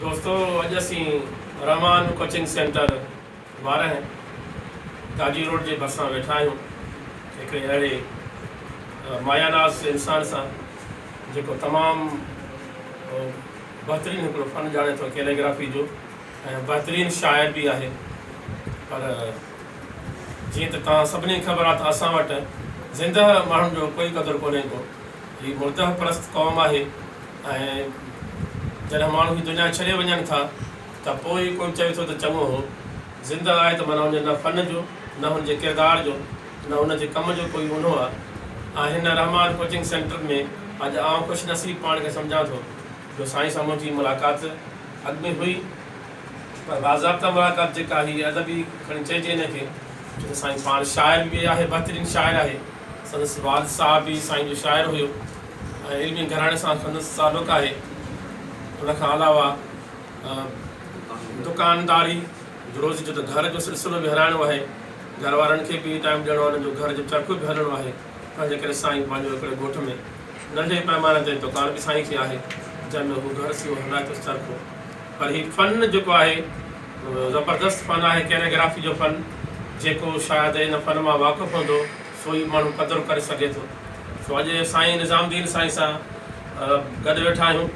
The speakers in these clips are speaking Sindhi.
دوستو اڄ اسين Rehman coaching centre Warah Taji road جي ڀرسان ويٺا آهيون هڪڙي اهڙي مايا ناز انسان سان جيڪو تمام بهترين هڪڙو فن ڄاڻي ٿو ڪيليگرافي جو ۽ بهترين شاعر به آهي پر جيئن ته توهان سڀني کي خبر آهي ته اسان وٽ زندهه ماڻهن جو ڪوئي قدر ڪونهي ڪو هي مردهه پرست قوم آهي ۽ جڏهن ماڻهو هي دنيا ڇڏي وڃن ٿا ته پوء ئي ڪوئي چوي ٿو ته چڱو هو زندهه آهي ته معنيٰ هن جي نه فن جو نه هن جي ڪردار جو نه هن جي ڪم جو ڪوئي اونهو آهي ۽ هن رحمان ڪوچنگ سينٽر ۾ اڄ آئون خوش نصيب پاڻ کي سمجهان ٿو. جو سائين سان منهنجي ملاقات اڳ ۾ هئي پر باضابطا ملاقات جيڪا هي ادبي کڻي چئجي هن کي ڇو ته سائين پاڻ شاعر به آهي بهترين شاعر آهي سندس والد صاحب به سائين جو شاعر هيو ۽ علمي گهراڻي سان سندس تعلق آهي ان کان علاوه دڪانداري روزي جو ته گهر جو سلسلو به هلائڻو آهي گهر وارن کي به ٽائيم ڏيڻو آهي انهن جو گهر جو چرخو به هلڻو آهي. ان جي ڪري سائين پنهنجو هڪڙي ڳوٺ ۾ ننڍي پئماني تي دڪان به سائين کي آهي، جنهن ۾ هو گهر سيو هلائي ٿو چرکو. پر هي فن جيڪو آهي زبردست فن آهي ڪيليگرافي جو فن، جيڪو شايد ان فن مان واقف هوندو سو ئي ماڻهو قدر ڪري سگهي ٿو. سو اڄ سائين نظام الدين سائين سان گڏ ويٺا آهيون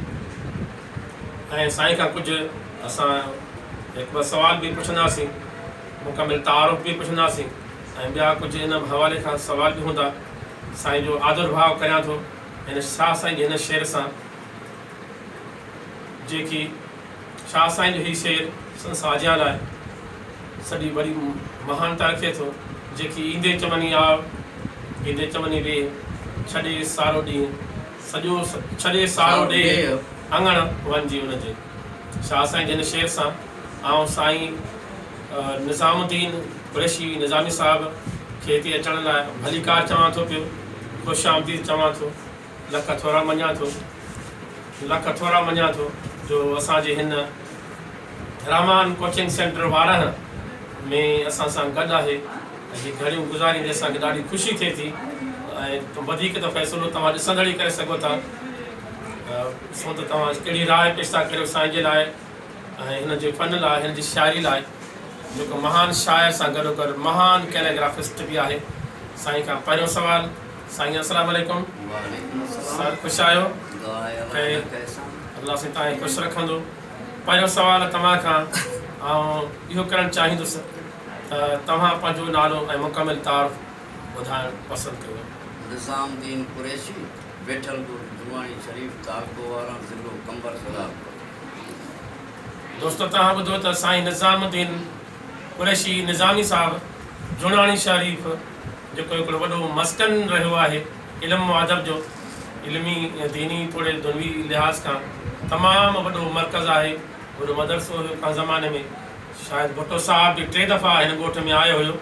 ۽ سائين کان ڪجهه اسان هڪ ٻه سوال به پڇنداسين، مڪمل تعارف به پڇنداسين. ۽ ٻيا ڪجهه ان حوالي کان سوال به هوندا. سائين جو آڌر ڀاء ڪريان ٿو هن شاهه سائين جي هن شعر سان جيڪي شاهه سائين جو هي شعر سندس آجيان لاء سڏي وڏي مهانتا رکي ٿو جيڪي ايندي چمني آء ايندي چمني ويهه ڇڏي سارو ڏينهن سڄو ڇڏي سارو ڏيهه اڱڻ وڃجي ان جي. شاهه سائين جن شعر سان آئون سائين نظام الدين قريشي نظامي صاحب کي هتي اچڻ لاء ڀليڪار چوان ٿو پيو، خوش آمديد چوان ٿو، لک ٿورا مڃان ٿو، لک ٿورا مڃان ٿو جو اسان جي هن رحمان ڪوچنگ سينٽر وارهه ۾ اسان سان گڏ آهي ۽ هي گهڙيون گذاريندي اسان کي ڏاڍي خوشي ٿئي ٿي ۽ وڌيڪ ته فيصلو توهان ڏسندڙ ئي ڪري سگهو ٿا. سو ته توهان اڄ ڪهڙي راء پيش ٿا ڪريو سائين جي لاء ۽ هن جي فن لاء، هن جي شاعري لاء، جيڪو مهان شاعر سان گڏوگڏ مهان ڪيليگرافسٽ به آهي. سائين کان پهريون سوال، سائين السلام عليڪم، سائين خوش آهيو، کي الله سائين تائين خوش رکندو، پهريون سوال توهان کان آئون اهو ڪرڻ چاهيندس ته توهان پنهنجو نالو ۽ مڪمل تعارف ٻڌائڻ پسند ڪريو. نظام الدين قريشي. ويٺل ڳوٺ درواڻي شريف، تعلقو واران، ضلعو قمبر سرار پهتو. دوستو توهان ٻڌو ته سائين نظام الدين قريشي نظامي صاحب جوڻاڻي شريف جيڪو هڪڙو وڏو مسڪن رهيو آهي علم و ادب جو علمي ديني توڙي دنوي لحاظ کان تمام وڏو مرڪز آهي وڏو مدرسو هيو ڪنهن زماني ۾ شايد ڀٽو صاحب به ٽي دفعا هن ڳوٺ ۾ آيو هيو.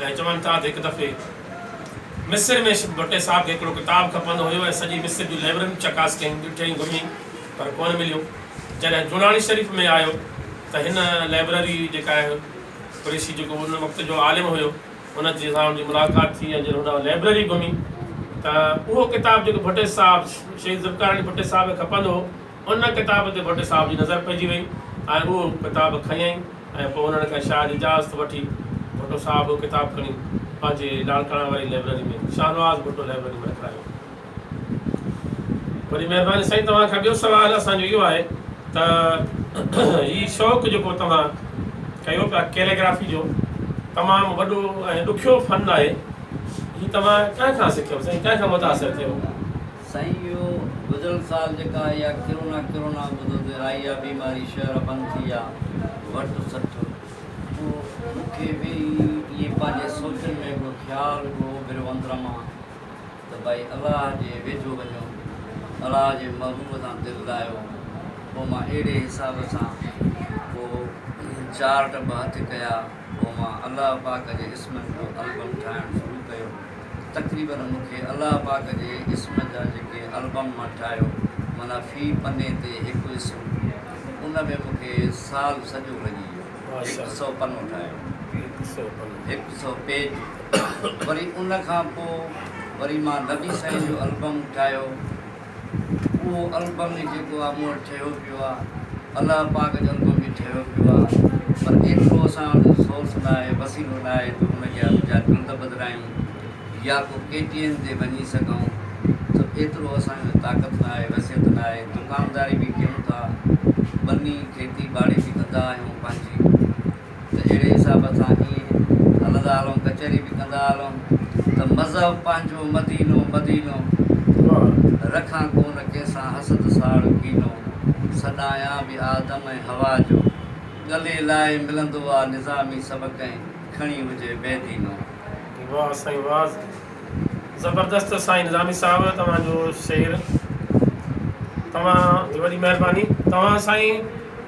۽ چون ٿا ته هڪ دفعي مصر ۾ شد ڀٽي صاحب کي هڪڙو ڪتاب کپندو هيو ۽ سڄي مصر جون لئبررين چڪاس ڪيائين، ڏٺيائين، گهميائين پر ڪونه مليو. جڏهن جوڻاڻي شريف ۾ آيو ته هن لئبرري جيڪا آهي قريشي جيڪو ان وقت جو عالم هيو ان جي سان ان جي ملاقات ٿي ۽ جڏهن هن لئبرري گهمي ته اهو ڪتاب جيڪو ڀٽي صاحب شهيد ذوالفقار علي ڀٽي صاحب کي کپندو هو، ان ڪتاب تي ڀٽ صاحب جي نظر پئجي وئي ۽ اهو ڪتاب کنيائين ۽ پوء انهن کان شايع جي اجازت وٺي ڀٽو صاحب اهو ڪتاب کڻي پنهنجي لاڙڪاڻا واري لئبرري ۾ شاهنواز ڀٽو لئبرري ۾ رکرايو. وڏي مهرباني سائين توهان کان ٻيو سوال اسان جو اهو آهي ته هي شوق جيڪو توهان ڪيو پيا ڪيليگرافي جو تمام وڏو ۽ ڏکيو فن آهي هي توهان ڪنهن کان سکيو سائين ڪنهن کان متاثر ٿيو. سائين اهو گذريل سال جيڪا آئي آ ڪرونا ڪرونا ٻڌو ته آئي آ بيماري شهر بند ٿي ويا وٺ سٺ پوء مون کي به ائين پنهنجي سوچن ۾ هڪڙو خيال هڪڙو اڀريو اندر مان ته ڀائي الله جي ويجهو وڃو الله جي محبوب سان دل لاهيو پوء مان اهڙي حساب سان پوء چارٽ به هٿ ڪيا. پوء مان الله پاڪ جي اسمن جو البم ٺاهڻ شروع ڪيو تقريبن مون کي الله پاڪ جي اسم جا جيڪي البم مان ٺاهيو معنيٰ في پني تي هڪ اسم ان ۾ مون کي سال سڄو لڳي ويو هڪ سئو پنو ٺاهيو هڪ سئو پيج وري ان کان پوء وري مان نبي سائين جو البم ٺاهيو اهو البم ئي جيڪو آ مون وٽ ٺهيو پيو آ الله پاڪ جو البم به ٺهيو پيو آ پر ايترو اسان وٽ سورس ناهي وسيلو ناهي جو ان جا ٻجا ڪنڊ بدرايون يا ڪو ڪي ٽي ايم تي وڃي سگهون سو ايترو اسان جو طاقت ناهي وسيت ناهي دڪانداري به ڪيون ٿا ٻني کيتي ٻاڙي به ڪندا آهيون پنهنجي ته اهڙي حساب سان ائين هلندا هلون ڪچهري به ڪندا هلون ته مذهب پنهنجو مدينو مدينو رکان ڪونه ڪنهن سان حسد ساڙ ڪينو سڏايان به آدم ۽ حوا جو ڳلي لائي ملندو آ نظامي سڀ ڪنهن کڻي هجي بي دينو. واھ سائين واھ زبردست سائين نظامي صاحب توهان جو شعر توهان جي وڏي مهرباني توهان سائين.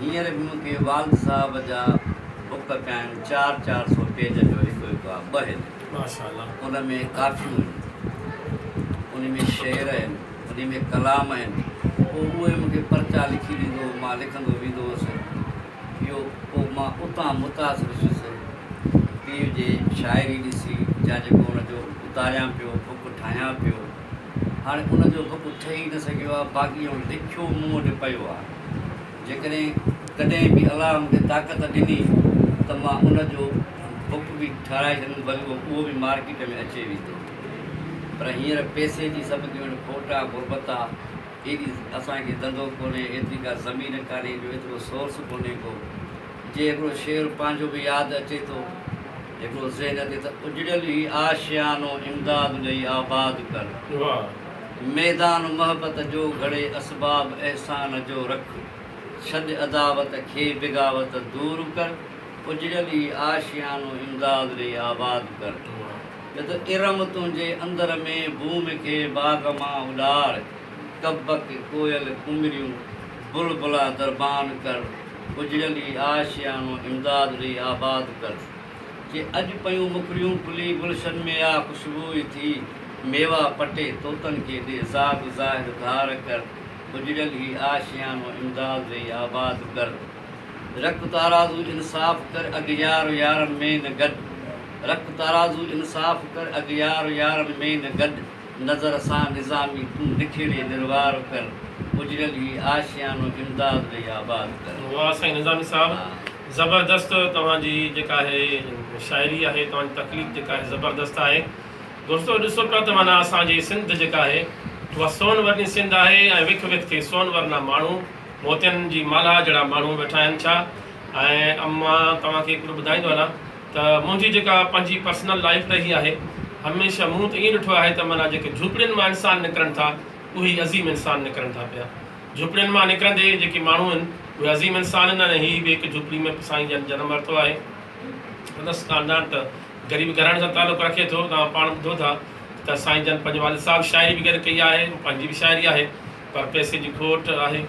هينئر به مون کي والد صاحب جا بڪ پيا آهن، چار چار سو پيج جو هڪ هڪ آهي، ٻه هن، ان ۾ ڪافيون هن، انهي ۾ شعر هن، انهي ۾ ڪلام هن، پوء اهي مون کي پرچا لکي ڏيندو هو، مان لکندو ويندو هوس، اهو پوء مان اتان متاثر ٿيس، پيء جي شاعري ڏسي، جا جيڪو ان جو اتاريان پيو، بڪ ٺاهيان پيو، هاڻي ان جو بڪ ٺهي نه سگهيو آهي، باقي هن لکيو مون وٽ پيو آهي. جيڪڏهن ڪڏهن به الله مون کي طاقت ڏني ته مان ان جو بڪ به ٺاهرائي ڇڏيندس بلڪ اهو به مارڪيٽ ۾ اچي ويندو پر هينئر پئسي جي سڀ ڄڻ کوٽ آ غربت آ ايڏي اسان کي ڌنڌو ڪونهي ايتري ڪا زمين ڪانهي جو ايترو سورس ڪونهي ڪو جي هڪڙو شعر پنهنجو به ياد اچي ٿو هڪڙو ذهن تي ته اجڙيل هي آشيانو امداد ڏئي آباد ڪر. ميدان محبت جو گهڙي اسباب احسان جو رک ڇڏ عداوت کي بغاوت دور ڪر اجڙيل ئي آشيانو امداد ڏئي آباد ڪر جت ارم تنهنجي اندر ۾ بوم کي باغ مان اڏاڙ ڪبڪ ڪوئل ڪمريون بلبلا دربان ڪر اجڙيل ئي آشيانو امداد ڏئي آباد ڪر. جي اڄ پيون مکڙيون کلي گلشن ۾ آ خوشبوء ٿي ميوا پٽي طوطن کي ڏي زاد ظاهر ڌار ڪر اجڙيل هي آشيانو امداد ڏئي آباد ڪر رک تارازو انصاف ڪر اغيار يارن ۾ نه گڏ رک تارازو انصاف ڪر اغيار يارن ۾ نه گڏ نظر سان نظامي تون نکيڙي نروار ڪر اجڙيل هي آشيانو امداد ڏئي آباد ڪر. واهه سائين نظامي صاحب. زبردست توهان جي جيڪا هي شاعري آهي توهان جي تخليق جيڪا آهي زبردست آهي دوستو ڏسو پيا ته معنيٰ اسان جي سنڌ جيڪا آهي اها سون ورني سنڌ آهي ۽ وک وک تي سون ورنا ماڻهو موتين جي مالها جهڙا ماڻهو ويٺا آهن ڇا ۽ مان توهان کي هڪڙو ٻڌائيندو هلان ته منهنجي جيڪا پنهنجي پرسنل لائيف رهي آهي هميشه مون ته ائين ڏٺو آهي ته معنيٰ جيڪي جهوپڙين مان انسان نڪرن ٿا اهي ئي عظيم انسان نڪرن ٿا پيا. جهوپڙين مان نڪرندي جيڪي ماڻهو آهن اهي عظيم انسان آهن ۽ هي به هڪ جهوپڙي ۾ سائين جن جنم ورتو آهي سندس خاندان ته غريب گهراڻي سان تعلق رکي ٿو توهان پاڻ ٻڌو ٿا ته سائين جن پنهنجي والد صاحب شاعري به گڏ ڪئي آهي پنهنجي به شاعري آهي پر پئسي جي کوٽ آهي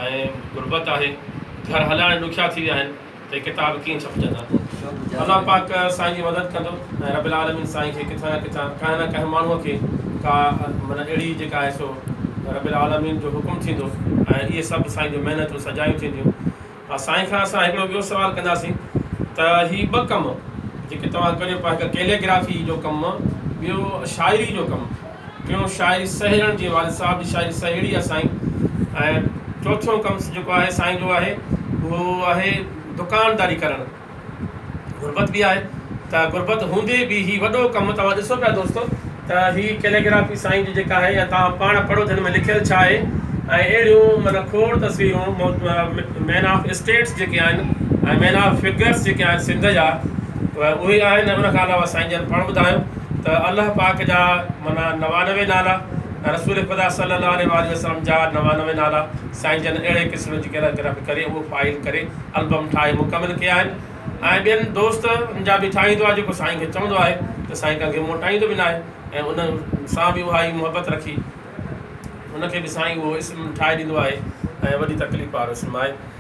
۽ غربت آهي گهر هلائڻ ڏکيا ٿي ويا آهن ته ڪتاب ڪيئن ڇپجندا پوء الله پاڪ سائين جي مدد ڪندو ۽ رب العالمين سائين کي ڪٿان نه ڪٿان ڪنهن نه ڪنهن ماڻهوء کي ڪا معنيٰ اهڙي جيڪا آهي سو رب العالمين جو حڪم ٿيندو ۽ اهي سڀ سائين جون محنتون سجايون ٿينديون ها سائين کان اسان هڪڙو ٻيو سوال ڪنداسين ته هي ٻه ڪم جيڪي توهان ڪريو پيا هڪ ڪيليگرافي جو ڪم ٻيو شاعري جو ڪم ٽيون شاعري سهيڙڻ جي والد صاحب جي شاعري سهيڙي آهي سائين ۽ چوٿيون ڪم جيڪو آهي سائين جو آهي اهو آهي دڪانداري ڪرڻ غربت به آهي ته غربت هوندي به هي وڏو ڪم توهان ڏسو پيا دوستو ته هي ڪيليگرافي سائين جي جيڪا آهي يا توهان پاڻ پڙهو ته هن ۾ لکيل ڇا آهي ۽ اهڙيون معنيٰ کوڙ تصويرون مين آف اسٽيٽس جيڪي آهن ۽ مين آف فگرس جيڪي آهن سنڌ جا اهي آهن ۽ ان کان علاوه سائين جن پاڻ ٻڌايو ته الله پاڪ جا معنيٰ نوانوي نالا ۽ رسول خدا صلّي اللّٰه عليه واٰله وسلّم جا نوانوي نالا سائين جن اهڙي قسم جي ڪيرائي ڪري رب ڪري اهو فائل ڪري البم ٺاهي مڪمل ڪيا آهن ۽ ٻين دوستن جا به ٺاهيندو آهي جيڪو سائين کي چوندو آهي ته سائين ڪنهنکي موٽائيندو به ناهي ۽ انهن سان به اها ئي محبت رکي ان کي به سائين اهو اسم ٺاهي ڏيندو آهي ۽ وڏي تڪليف وارو اسم آهي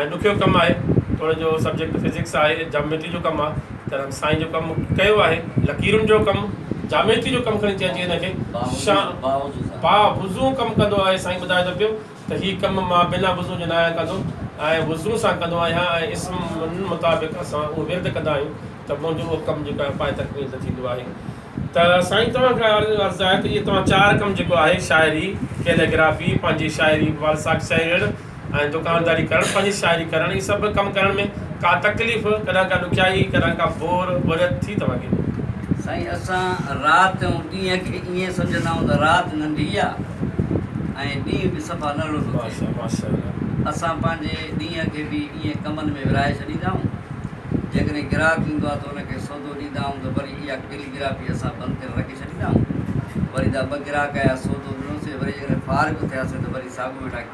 ۽ ڏکيو ڪم آهي توڙي جو سبجيڪٽ فزڪس آهي جاميٽري جو ڪم آهي ته رنگ سائين جو ڪم ڪيو آهي لڪيرن جو ڪم جاميٽري جو ڪم کڻي چئجي هن کي با وضو ڪم ڪندو آهي سائين ٻڌائي ٿو پيو ته هي ڪم مان بنا وضو جي نه آهيان ڪندو ۽ وضو سان ڪندو آهيان ۽ اسمن مطابق اسان اهو ورد ڪندا آهيون ته منهنجو اهو ڪم جيڪو آهي پائي تڪميل ته ٿيندو آهي ته سائين توهان کي عرض آهي ته اهي توهان چار ڪم جيڪو آهي شاعري ڪيليگرافي پنهنجي شاعري والساڪ شاعري ۽ دڪانداري ڪرڻ، پنهنجي شاعري ڪرڻ، هي سڀ ڪم ڪرڻ ۾ ڪا تڪليف، ڪڏهن ڪا ڏکيائي، ڪڏهن ڪا بور، بوريت، ٿي توهان کي؟ سائين اسان رات ۽ ڏينهن کي ائين سمجهندا آهيون ته رات ننڍي آ ۽ ڏينهن به صفا ننڍڙو ٿو ٿئي. اسان پنهنجي ڏينهن کي به ائين ڪمن ۾ ورهائي ڇڏيندا آهيون. جيڪڏهن گراهڪ ايندو آ ته ان کي سودو ڏيندا آهيون ته وري اها ٽيلي گرافي اسان بند ڪري رکي ڇڏيندا آهيون. وري دا ٻه گراهڪ آيا سودو ڏنوسين وري جيڪڏهن فارغ ٿياسين ته وري ساڳيو ويٺا ڪيون.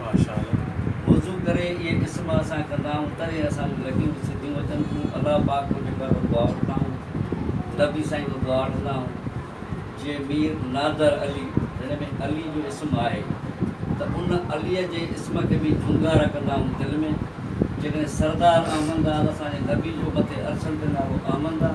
ماشاء الله وضو ڪري اهي قسم اسان ڪندا آهيون تڏهن اسان جون لڳيون به سڌيون اچن ٿيون الله پاڪ وٽ هڪ ڀيرو دعا وٺندا آهيون نبي سائين وٽ دعا وٺندا آهيون جي مير نادر علي جنهن ۾ علي جو اسم آهي ته ان علي جي اسم کي به جهونگارا ڪندا آهيون دل ۾ جيڪڏهن سردار احمد آل اسان جي نبي جو مٿي عرشن تي نالو احمد آ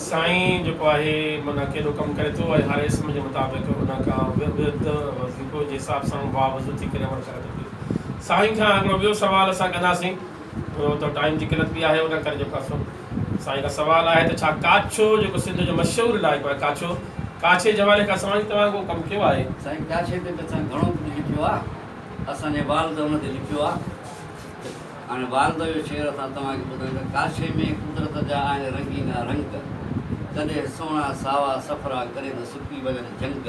سائين جيڪو آهي معنيٰ ڪيڏو ڪم ڪري ٿو ۽ هر اسم جي مطابق ان کان ورد وظيفو جي حساب سان واء وضو ٿي ڪري عمل ڪري ٿو پيو سائين کان هڪڙو ٻيو سوال اسان ڪنداسين ڇو ته ٽائيم جي قلت به آهي ان ڪري جيڪو آهي سو سائين کان سوال آهي ته ڇا ڪاڇو جيڪو سنڌ جو مشهور علائقو آهي ڪاڇو ڪاڇي جي حوالي کان سائين توهان ڪو ڪم ڪيو آهي سائين ڪاڇي تي ته اسان گهڻو ڪجهه لکيو آهي اسان جي والد ان تي لکيو آهي هاڻي والده جو شعر اسان توهان کي ٻڌايون ٿا ڪاشي ۾ قدرت جا آهن رنگينا رنگ ڪڏهن سهڻا ساوا سڦرا ڪڏهن ته سڪي ويل جهنگ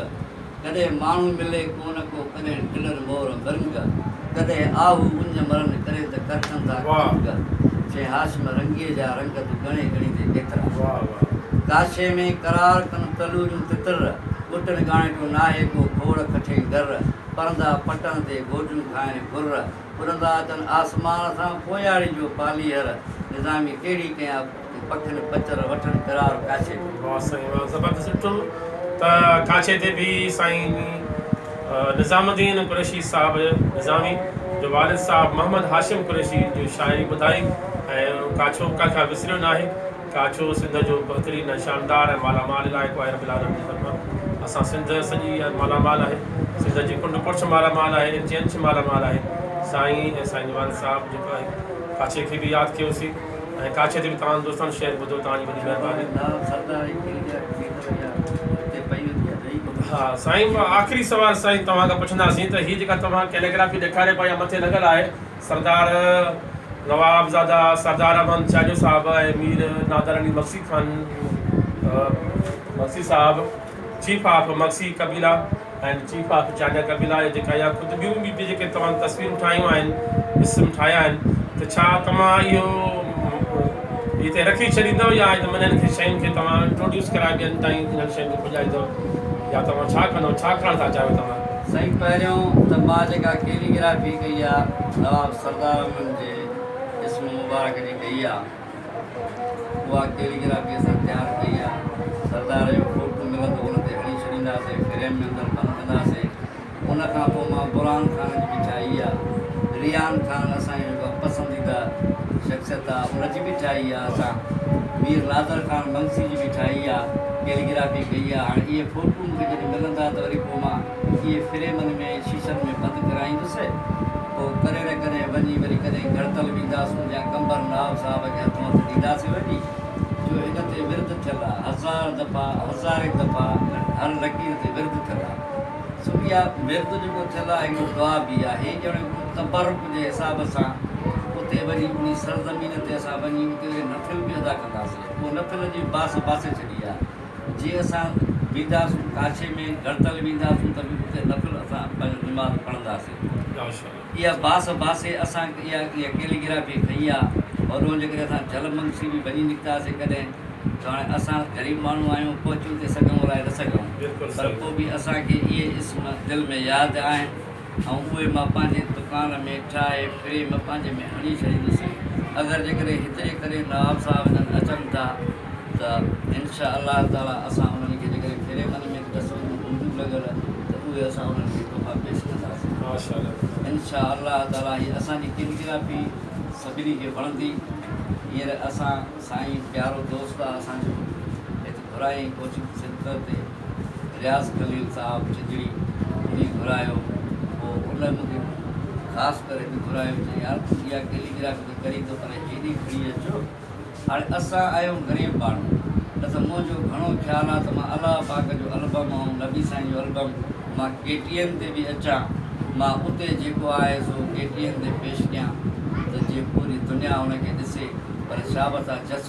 ڪڏهن ماڻهو ملي ڪونه ڪو ڪڏهن ٽلن مور مرنگ ڪڏهن آهو اڃ مرن ڪڏهن ته ڪرشن ٿا ڪنگ شيخ هاشم رنگيء جا رنگ تون ڳڻي ڳڻي ته ڪيترا ڪاشي ۾ قرار ڪن تلوريون تتر ٻٽن ڳاڻيٽو ناهي ڪو کوڙ کٺين گر پرندا پٽن تي گوجون کائن گهر ان لاء تن آسمان سان پوياڙي جو پاليهر نظامي ڪهڙي ڪنهن اپ تي پکن پچر وٺڻ قرار ڪاڇي تي. واھ سائين واھ زبردست ڏٺو ته ڪاڇي تي به سائين نظام الدين قريشي صاحب نظامي جو والد صاحب محمد هاشم قريشي جو شاعري ٻڌائي ۽ ڪاڇو ڪا کان وسريو ناهي. ڪاڇو سنڌ جو بهترين ۽ شاندار ۽ مالا مال علائقو آهي رب العالمين جي طرفان اسان سنڌ سڄي مالا مال آهي سنڌ جي ڪنڊ ڪڙڇ مالا مال آهي انچ انچ مالا مال آهي سائين ۽ سائين ديوان صاحب جيڪو آهي ڪاڇي کي به ياد ڪيو سي ۽ ڪاڇي تي به توهان دوستان شعر ٻڌو توهان جي وڏي مهرباني ها سائين آخري سوال سائين توهان کان پڇندا سين ته هي جيڪا توهان ڪيليگرافي ڏيکاري پئي يا مٿي لڳل آهي سردار نواب زاده سردار احمد چانيو صاحب ۽ مير نادر علي مگسي خان مگسي صاحب چيف آف مگسي قبيلا ۽ چيف آف چانيا قبيلا يا جيڪا يا خود ٻيون به جيڪي توهان تصويرون ٺاهيون آهن اسم ٺاهيا آهن ته ڇا توهان اهو هتي رکي ڇڏيندؤ يا انهن کي شين کي توهان انٽروڊيوس ڪرائي ٻين تائين انهن شين کي پڄائيندؤ يا توهان ڇا ڪندؤ ڇا ڪرڻ ٿا چاهيو توهان سائين پهريون ته مان جيڪا ڪيلي گرافي ڪئي آ نواب سردار احمد جي اسم مبارڪ جي ڪئي آ اها ڪيلي گرافي اسان تيار ڪئي آ سردار جو فوٽو ملندو ان تي هڻي ڇڏينداسي فريم ۾ اندر بند ڪنداسي ان کان پوء مان برهان خان جي به ٺاهي آ ريان خان اسان جو جيڪو پسنديده شخصيت آ ان جي به ٺاهي آ اسان مير نادر خان منگسي جي به ٺاهي آ ڪيلي گرافي ڪئي آ هاڻي اهي فوٽو جي ڪڏهن ملندا ته وري پوء مان اهي فريمن ۾ شيشن ۾ بند ڪرائيندس. پوء ڪرڙ ڪڏهن وڃي وري ڪڏهن گهڙتل وينداسون جيان قمبر نواب صاحب کي هٿ مٿ ڏينداسين وڃي. جو هن تي ورد ٿيل آ. هزار دفعا، هزارين دفعا ۽ هر لڪير تي ورد ٿيل آ. سو اها ورد جيڪو ٿيل آ اهو دعا به آ. هي ڄڻڪ تبرڪ جي حساب سان اتي وڃي انهي سرزمين تي اسان وڃي اتي وري نفل به ادا ڪنداسين. اهو نفل جي باسي باسي ڇڏي آ. جي اسان وينداسون ڪاڇي ۾ گڻتل وينداسون ته به اتي نفل اسان پنهنجو نماز پڙهنداسين اها باس باسي اسان اها اها ڪيليگرافي کئي آ هوڏهون جيڪڏهن اسان جهل منگسي به وڃي نڪتاسي ڪڏهن ته هاڻي اسان غريب ماڻهو آهيون پهچي اتي سگهون الائي نه سگهون پر پوء به اسان کي اهي اسم دل ۾ ياد آهن ۽ اهي مان پنهنجي دڪان ۾ ٺاهي فريم پنهنجي ۾ هڻي ڇڏيندس اگر جيڪڏهن هتي ڪري نواب صاحب جن اچن ٿا ته انشاء الله تعاليٰ اسان انهن کي جيڪڏهن فريمن ۾ به تصويرون هونديون لڳل ته اهي اسان انهن کي تحفا پيش ڪنداسين انشاء الله تعاليٰ هي اسان جي ڪيليگرافي سڀني کي وڻندي هينئر اسان سائين پيارو دوست آهي اسان جو گهرائين ڪوچنگ سينٽر تي رياض خليل صاحب چڄڙي وڃي گهرايو هو ان مونکي خاص ڪري به گهرايو چي يار تون اها ڪيليگرافي ته ڪرين ٿو پر هيڏي کڻي اچو هاڻي اسان آهيون غريب ماڻهو نه ته منهنجو گهڻو خيال آ ته مان الله پاڪ جو البم ۽ نبي سائين جو البم مان ڪي ٽي اين تي به اچان مان اتي جيڪو آهي سو ڪي ٽي اين تي پيش ڪيان ته جي پوري دنيا ان کي ڏسي پر شابس آ جس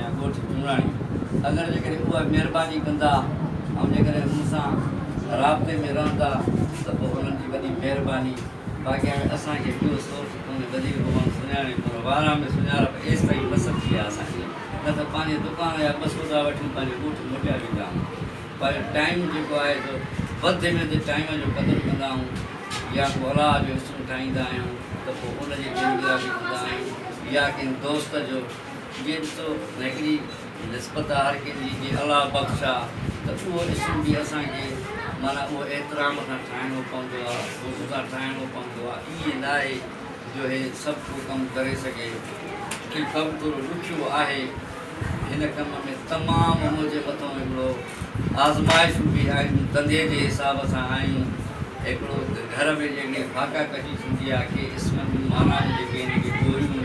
يا ڳوٺ چوڻاڻي اگر جيڪڏهن اهي مهرباني ڪندا ۽ جيڪڏهن مون سان رابطي ۾ رهندا ته پوء انهن جي وڏي مهرباني باقي هاڻي اسان کي ٻيو سورس ڪونهي وزير محمد سڃاڻي پور وارا ۾ سڃاڻپ ايستائين نه سمجهي آهي اسان کي نه ته پنهنجي دڪان يا ٻه سودا وٺي پنهنجي ڳوٺ موٽيا ويندا آهيون پر ٽائيم جيڪو آهي سو وڌندي ويندي ٽائيم جو قدر ڪندا آهيون يا ڪو الاء جو اسم ٺاهيندا آهيون ته پوء ان جي گينگرافي ڪندا آهيون يا ڪنهن دوست جو جيئن تو هڪڙي نسبت آ هر ڪنهن جي جي الله بخش آ ته اهو اسم به اسان کي معنيٰ اهو احترام سان ٺاهڻو پوندو آ حسن سان ٺاهڻو پوندو آ ائين ناهي جو هي سڀ ڪو ڪم ڪري سگهي هي ڪم ٿورو ڏکيو آهي هن ڪم ۾ تمام منهنجي مٿون هڪڙو آزمائشون به آهن ڌنڌي جي حساب سان آيون هڪڙو گهر ۾ جيڪڏهن فاقا ڪشي ٿيندي آ ڪي اسمن جون معنيٰ جيڪي هن کي ڳوريون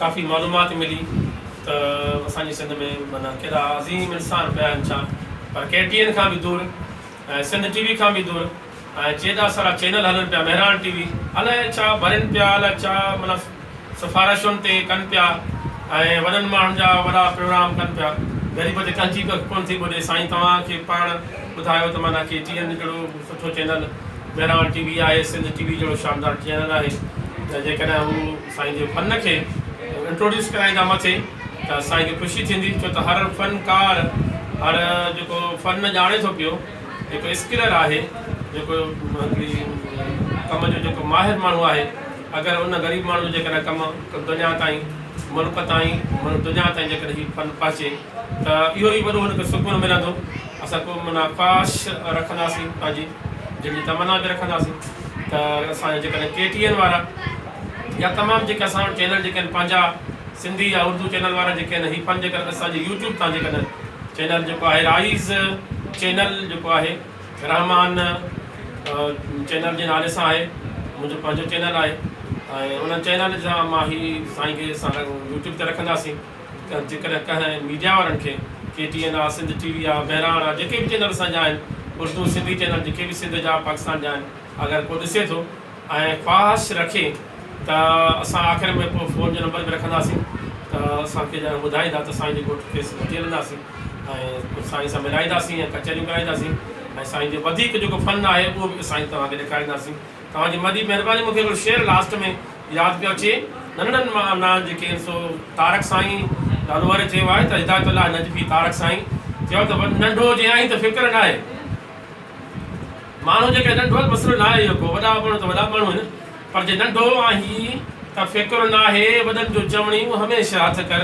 ڪافي معلومات ملي ته اسان جي سنڌ ۾ معنيٰ ڪيڏا عظيم انسان پيا آهن ڇا پر ڪي ٽي اين کان به دور ۽ سنڌ ٽي وي کان به دور ۽ ڪيڏا سارا چينل هلن پيا مهراڻ ٽي وي الائي ڇا ڀرين پيا الائي ڇا معنيٰ سفارشن تي ڪن پيا ۽ وڏن ماڻهن جا وڏا پروگرام ڪن پيا غريب تي ڪنهن جي ڪک ڪونه ٿي ٻڏي سائين توهان کي پاڻ ٻڌايو ته معنيٰ ڪي ٽي اين جهڙو سٺو چينل مهراڻ ٽي وي آهي سنڌ ٽي وي جهڙو شاندار چينل آهي ته جيڪڏهن هو سائين جي فن کي انٽروڊيوس ڪرائيندا مٿي ته اسان کي خوشي ٿيندي ڇو ته هر فنڪار هر جيڪو فن ڄاڻي ٿو پيو جيڪو اسڪلر آهي جيڪو هڪڙي ڪم جو جيڪو ماهر ماڻهو آهي اگر ان غريب ماڻهو جو جيڪڏهن ڪم دنيا تائين ملڪ تائين دنيا تائين جيڪڏهن هي فن پهچي ته اهو ئي وڏو هن کي سڪون ملندو اسان ڪو منا خواهش رکنداسين پنهنجي دل جي تمنا به رکنداسين ته اسان جا جيڪڏهن ڪي ٽي اين وارا يا تمام جيڪي اسان وٽ چينل جيڪي آهن پنهنجا سنڌي يا اردو چينل وارا جيڪي آهن هي پنهنجي ڪري اسان جي يوٽيوب تان جيڪي آهن چينل جيڪو آهي رائيز چينل جيڪو آهي رحمان چينل جي نالي سان آهي منهنجو پنهنجو چينل آهي ۽ ان چينل جا مان هي سائين کي اسان يوٽيوب تي رکنداسين جيڪڏهن ڪنهن ميڊيا وارن کي ڪي ٽي اين آ سنڌ ٽي وي آ مهراڻ آ جيڪي به چينل اسان جا آهن اردو سنڌي چينل جيڪي به سنڌ جا پاڪستان جا آهن اگر ڪو ڏسي ٿو ۽ خواهش رکي ته اسان آخر ۾ پوء فون جو نمبر به رکنداسين ته اسان کي ڄڻ ٻڌائيندا ته سائين جي ڳوٺ کيس وٺي هلنداسين ۽ سائين سان ملائينداسين ۽ ڪچهريون ڪرائينداسين ۽ سائين جو وڌيڪ جيڪو فن آهي اهو به سائين توهان کي ڏيکارينداسين توهان جي وڏي مهرباني مون کي هڪڙو شعر لاسٽ ۾ ياد پيو اچي ننڍڙن مان نانهن جيڪي آهن سو تارڪ سائين لالوئر چيو آهي ته هدايت الله نجفي تارڪ سائين چيو ته ننڍو جي آهين ته فڪر ناهي. ماڻهو جيڪڏهن ننڍو ته مسئلو ناهي اهو ڪو، وڏا به ماڻهو ته وڏا به ماڻهو آهن، پر جي ننڍو آهين ته فڪر ناهي، وڏن جو چوڻيون هميشه هٿ ڪر،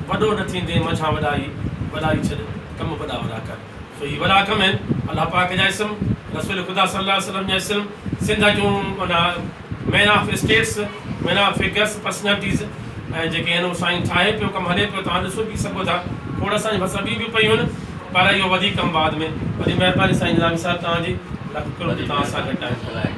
وڏو نه ٿيندين منجهان وڏائي، وڏائي ڇڏ، ڪم وڏا وڏا ڪر، سو هي وڏا ڪم آهن، الله پاڪ جا اسم، رسول خدا صلي الله عليه وسلم جا اسم، سنڌ جون معنيٰ. Man of status, man of figures, personalities ۽ جيڪي آهن اهو سائين ٺاهي پيو ڪم هلي پيو توهان ڏسو پي سگهو ٿا کوڙ اسان جي ڀرسان ٻيون به پيون آهن پر اهو وڌيڪ ڪم بعد ۾ وڏي مهرباني سائين نظامي صاحب توهان جي لک ڪروڙ توهان سان گڏ آهيون.